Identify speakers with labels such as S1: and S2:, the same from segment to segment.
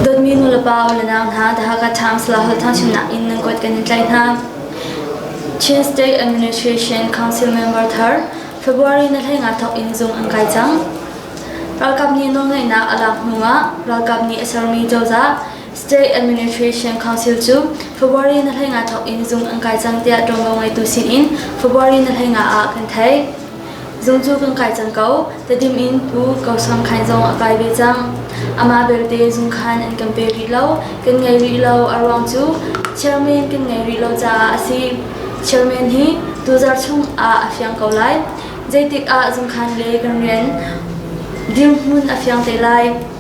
S1: Dawtmi nulepa unau hna The Hakha Times le Halthang sinah in nan kuat kan in tlaih hna. Chin State Administration Council member thar February na thlai nga thok in zung an kai cang. Ralkap nih nawlngaihnak a lak hnuah ralkap nih a sermi cozah State Administration Council cu February na hleinga thawk in zung an kai cang tiah ṭuanvo ngeitu sin in February na hleinga ah kan theih. Zung cu kan kai cang ko, tadim in Pu Ko Som Khain zong a kai ve cang. Ama belte zung khan an kan pe rih lo, kan ngei rih lo, a ruang cu chairman kan ngei rih lo caah a si. Chairman hi tuzar chung ah a fiang ko lai, zeitik ah zung khan le kan rian dirhmun a fiang te lai.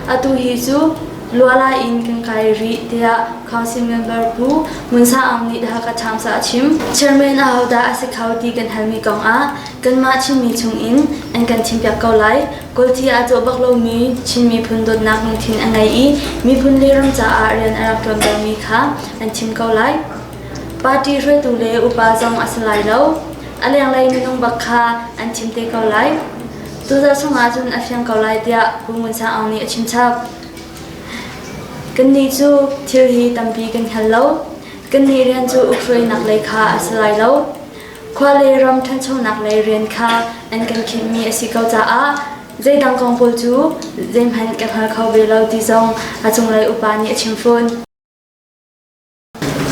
S1: Atu hi cu luala in kan kai rih tiah council member Pu Mun Sa Aung nih Hakha Times ah a chim. Chairman ahodah a si kho ti kan halmi kong ah kanmah Chinmi chungin an kan thimpiak ko lai. Kawlci a cawh bak lomi Chin miphun dawtnak lungthin a ngei i miphun le ram caah rian a rak ṭuantermi kha an thim ko lai. Party hruaitu le upa zong a si lai lo. A lenglei minung bak kha an thim te ko lai. Cucaah chung ahcun a fiang ko lai tiah Pu Ngun Sang Aung nih a chim chap. Kannih cu thil hi tampi kan hngal lo. Kannih rian cu ukhruainak lei kha a si lai lo. Khua le ram ṭhanchonak lei rian kha an kan khinh mi a si ko caah zeidang kong pawl cu zeihmanh kan hngal kho ve lo ti zong a cunglei upa nih a chim fawn.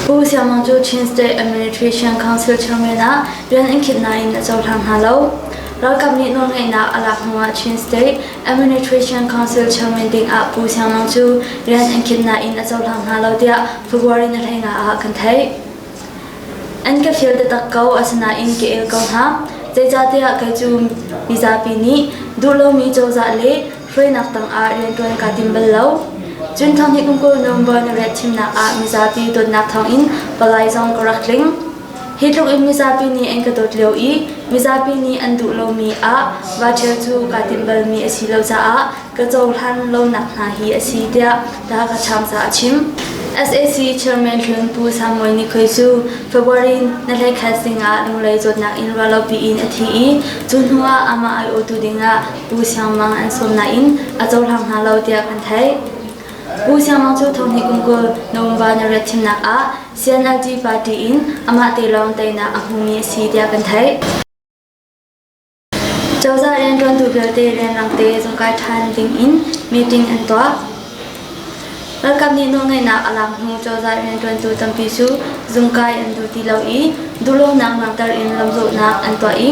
S1: Pu Siang Mang cu Chin State Administration Council chairman ah rian an khinh nain a cohlang hna lo. Ralkap nih nawlngeihnak a lak hnuah Chin State Administration Council chairman dingah Pu Siang Mang cu rian an khinh nain a cohlang hna lo tiah February ni hleina ah kan theih. An ka fial taktak ko asinain ka el ko hna. Zeicahtiah kei cu mizapi nih duh lomi cozah le Hruainak tangah rianṭuan kaa tim bal lo. Cun thawnghi kum kul November na riat thimnak ah mizapi dawtnak thawngin palai zong ka rak tling. Hi tlukin mizapi nih an ka dawt lio i mizapi nih an duh lomi ah voucher cu kaa timh balmi a si lo caah ka cohlan lonak hna hi a si tiah The Hakha Chamsa a chim. SAC Chairman Hlun Pu Samuel Nikhoi cu February na hlei khat zingah Lunglei zawtnak in ruahlopi in a thi i cu hnuah amah aiawhtu dingah Pu Siang Mang an sawm nain a cohlang hna lo tiah kan theih. Pu Siang Mang cu thonghnih kum kul November narek thimnak ah CNLD party in amah te lawng teinak a hmumi a si tiah kan theih. Cozah rianṭuantu vialte rianrang te zung kai ṭhan ding in meeting an tuah. Ralkap nih nawlngeihnak a lak hnu cozah rianṭuantu tampi cu zungkai an duh ti lo i duhlonak langhter in lamzawhnak an tuah i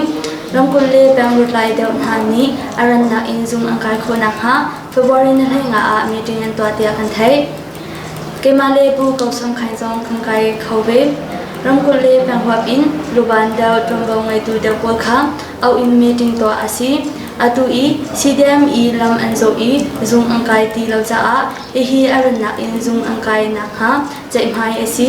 S1: ramkulh le pengruat lai deuh hna nih a rannak in zung an kai khawh nakhnga February nihleina ah meeting an tuah tiah kan theih. Keimah le Pu Ko Song Khain zong kan kai kho ve. Ramkulh le penghuap in luban deuh ṭuanvo ngeitu deuh pawl kha auh in meeting tuah a si. Atu i CDM i lam an zoh i zung an kai ti lo caah hihi a runnak in zung an kai nakhnga ceihmai a si.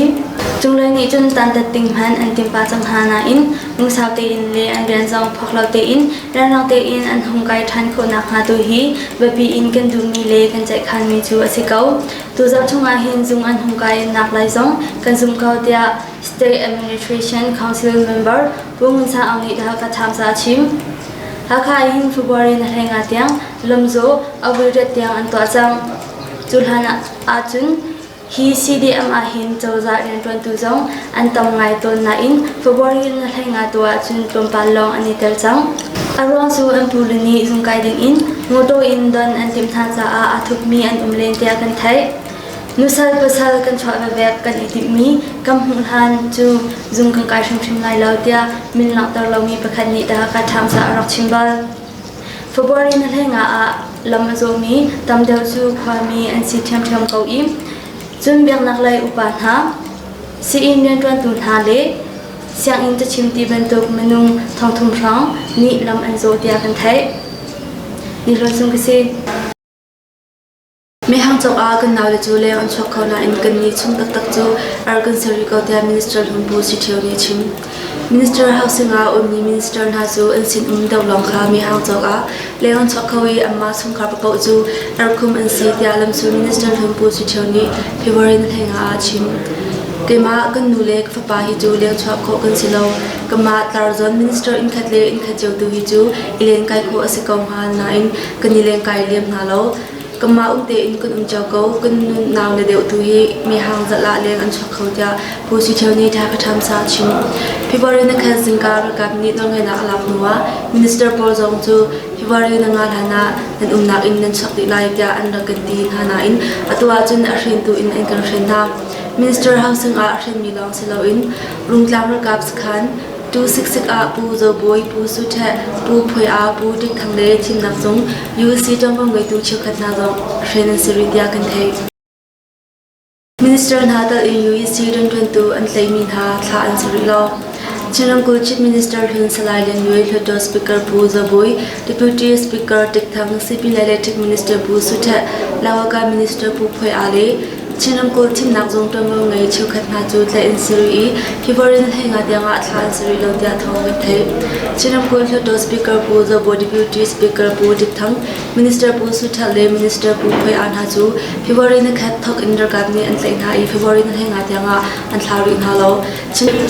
S1: Cunglei nih cun tantat ding hman an timpa cang hna nain lungsau tein le an rian zong phok lo tein rianrang tein an hung kai ṭhan khawh nakhnga tu hi biapi in kan duhmi le kan ceihkhanmi cu a si ko. Tu zarh chung ah hin zung an hung kai nak lai zong kan zum ko tiah State Administration Council member Pu Ngun San Aung nih Hakha Times ah a chim. Hakha in February na hleng ah tiang Lomzaw Avuldat tiang an tuah cang. Cu hlan ah ahcun hi CDM ah hin cozah rianṭuantu zong an tam ngai tawn nain February in na hleng ah tu ahcun tlawmpal lawng an i tel cang. A ruang cu an pu le nih zung kai ding in motor in don an timh hna caah a thukmi an um len tiah kan theih. Nusal pasal kan chuah vevek kan i timhmi kan hmuh hlan cu zung kan kai hrimhrim lai lo tiah min langhter lomi pakhat nih dah ka ṭhamsa a rak chim bal. February na hlengah ah lam a zawmi tam deuh cu khuami an si ṭhiamṭhiam ko i cun biaknak lei upa hna, sii-inn rianṭuantu hna le sianginn cachim ti bantuk minung thongthum hrang nih lam an zawh tiah kan theih. Ni hlawt sung ka si. Mehhang cungah kan naule cu leng an chuak kho nain kan ni chung taktak cu ar kan ser rih ko tiah Minister Hlung Bu Si Ṭhio nih a chim. Minister Housing ah ummi minister hna cu an sinum do lawng kha mehhang cungah leng an chuak kho i anmah chungkhar paoh cu arkum an si tiah lamsul Minister Hlung Bu Si Ṭhio nih February ni hleng ah a chim. Keimah kan nu le ka fapa hi cu leng chuah khawh kan si lo. Kamah tlarzawn minister innkhat le innkhat cio tu hi cu i len kai khawh a si ko hnga nain kan i leng kai lem hna lo. Kanmah um tein kan um cio ko. Kan nunau na deuh tu hi mihang zat lah leng an chuak kho tiah Pu Siṭheu nih Thakha Ṭhamsa a chim. February na khan zingka ralkap nih nawlngaihnak a lak hnu ah minister pawl zong cu February na nga hlan ah nan umnak in nan chuak dih lai tiah an rak kan ti hna nain atu ahcun a hrintu in an kan hrin hna. Minister housing ah a hrinmi lawng si loin Rungtlang ralkap sakhan Tu siksik ah Pu Zo Bawi, Pu Su Ṭheh, Pu Phuai A, Pu Ding Thang le thimnak zung UC ṭangpang ngeitu cheukhat hna zong hren an si rih tiah kan theih. Minister hna tal in UEC rianṭuantu an tleimi hna thlah an si rih lo. Chin ramkulh Chief Minister Hlun Salai Lian Yue, Hluttaw Speaker Pu Zo Bawi, Deputy Speaker Tic Thang, CP le Electric Minister Pu Su Ṭheh, Lawaka Minister Pu Phuai A le Chin ramkulh thimnak zung ṭuanvomi cheukhat hna cu tlaih an si rih i hi vorin Heinga tiangah thla an si rih lo tiah thawng kan theih. Chin ramkulh Hluttaw Speaker Pu Zobo Deputy Speaker Pu Dik Thang, Minister Pu Su Htet le Minister Pu Hoi An hna cu February ni khat thawk in ralkap nih an tlaih hna i February ni Heinga tiangah an thla rih hna lo.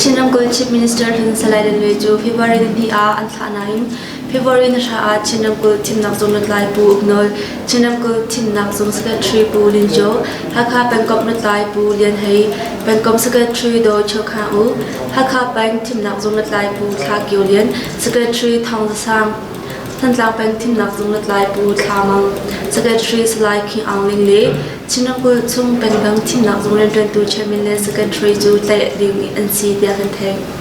S1: Chin ramkulh Chief Minister Hlun Salai Danwe cu February ni hnih ah an thlah nain February na hra ah Chin ramkulh thimnak zung lutlai Pu Uk Nawl, Chin ramkulh thimnak zung secretary Pu Lin Cho, Hakha pengkomh lutlai Pu Lian Hei, pengkomh secretary Do Cho Kha U, Hakha peng thimnak zung lutlai Pu Thla Kio Lian, secretary Thong Za Sang, Thantlang peng thimnak zung lutlai Pu Thla Mang, secretary Salai King Aung Ling le Chin ramkulh chung pengdang thimnak zung rianṭuantu chairman le secretary cu tlaih ding an si tiah kan theih.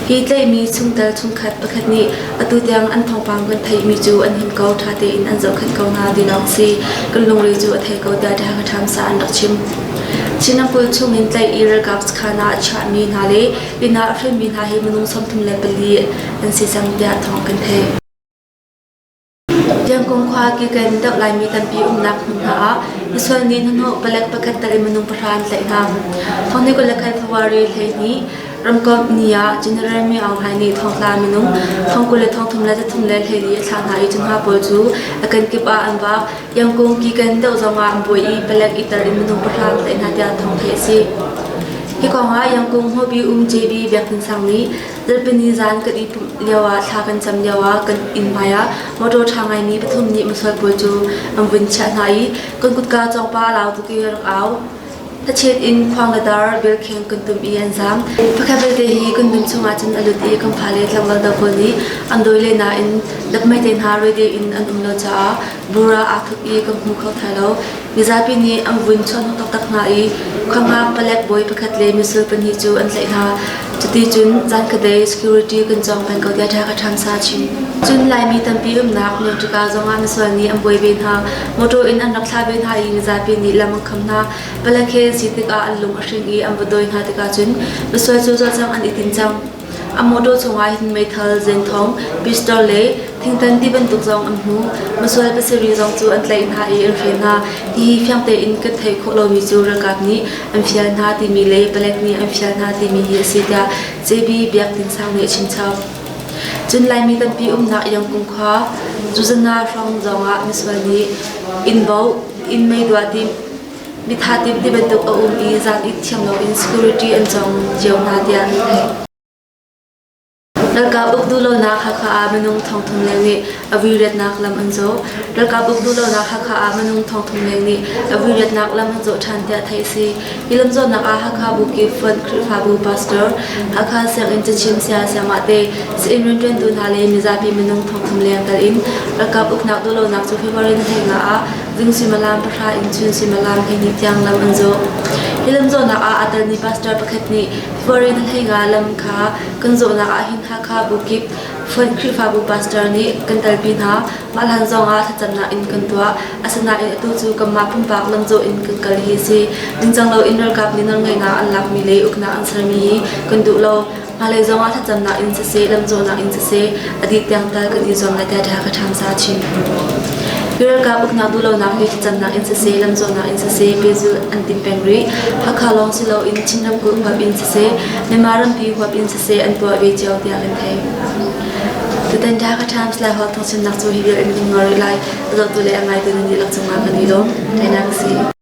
S1: Ki tlaihmi chungtel chungkhat pakhat nih atu tiang an thawngpang kan theihmi cu an him ko ṭha tein an zohkhenh ko hna ti lawng si kan lungre cu a thei ko tiah Ṭhahangaṭham sa an rak chim. Chin ramkulh chungin tlaih i ralkap sakhan ah chiahmi hna le inn ah hremmi hna hi minung sawmthum le pali an si cang tiah thawng kan theih. Tiangkum khua Kiken deuh Laimi tampi umnak hmun hna ah misual nih hnuhnawh palek pakhat tal in minung pahra an tlaih hna. Thawngniku le Khaithuari hleihnih, ramkomh ni ah General Mi Aung Hlaing nih thongtla minung thongkul le thongthum le thathum le hleili a thlah hna i cu hna pawl cu a kenkip ah an vak. Iangkung Kiken deuh zongah an buai i palek itar in minung pahra an tlaih hna tiah thawng theih a si. Hi kongah Iangkung Hmobi um JB Biak Tin Sang nih Zarhpini zan kan i pumh lioah thla kan cam lioah kan inn hmaiah motor ṭha ngaimi pathum nih mosual pawl cu an vun chiah hna i kan kutka cawngpa a lau tuk i rak au. Thachet in khuang le dar belkheng kan tum i an zaam. Pakhat vialte hi kan nun chungah cun a lut i kan fale tlangval dang pawl nih an dawi le nain dapmai te hna roi tein an um lo caah bura aa thuk i kan hmu kho thai lo. Mizapi nih an vun chawhnuk taktak hna i khuangam palek bawi pakhat le missile pahnih cu an tlaih hna. Cuti cun zankhatte security kan cawng peng ko tiah thla ka ṭhamsa chin. Cun Laimi tampi umnak Nautica zong ah misual nih an buai ve hna. Motor in an rak thlah ve hna i mizapi nih lam an kham hna. Palek he si tikah an lung a hring i an va dawi hna tikah cun misual cu zawt cang an i tin cang. A mawṭaw chungah hin meithal, zenthong, pistol le thingthan ti bantuk zong an hmu. Masual pasarih zong cu an tlaih hna i an hre hna. Hihi fiang tein kan theih khawh lomi cu ralkap nih an fial hna timi le palek nih an fial hna timi hi a si tiah JB Biak Tin Sang nih a chimchap. Cun Laimi tampi umnak Yangkung khua Zuzana hrawng zongah misual nih inn bauh, inn mei duah timh, Mitha tim ti bantuk a um i zan it thiam loin security an cong cio hna tiah an theih. Ralkap uk duhlonak Hakha ah minung thongthum leng nih a vuiretnak lam an zawh. Ralkap uk duhlonak Hakha ah minung thongthum leng nih a vuiretnak lam an zawh ṭhan tiah theih a si. Hi lam zawtnak ah Hakha Buki Front Khrihfabu Pastor, Hakha Sianginn cachin saya Siamahte, sa-inn rianṭuantu hna le mizapi minung thongthum leng kal in ralkap uknak duhlonak cu February ni hlengah ah Zung suimilam pahra in chun suimilam hleihnih tiang lam an zawh. Hi lam zawhnak ah aa telmi pastor pakhat nih foreign hleiga lam kha kan zawhnak ah hin Hakha bukip Fund Khrihfabu pastor nih kan talpi hna. Mah hlan zongah thlacamnak in kan tuah. Asinain atu cu kanmah pumpak lamzawh in kan kal hi si. Ningcang loin ralkap nih nawlngaihnak an lakmi le uknak an sermi hi kan duh lo. Hmailei zongah thlacamnak in siseh, lamcawhnak in siseh a dih tiang tal kan i zuam le data ka ṭhamsa chin. Ralkap uknak duhlonak hi thlacamnak in siseh, lamcawhnak in siseh pehzulh an tim peng rih. Hakha lawng si loin Chin ramkulh huap in siseh, Myanmar rampi huap in siseh an tuah ve cio tiah kan theih. Tutan ṭha ka ṭham silai huap thawngchimnak cu hi vial in kan ngawr rih lai. A zotu le a ngaitu nan dihlak cungah kan i lawm. Kainak ka si.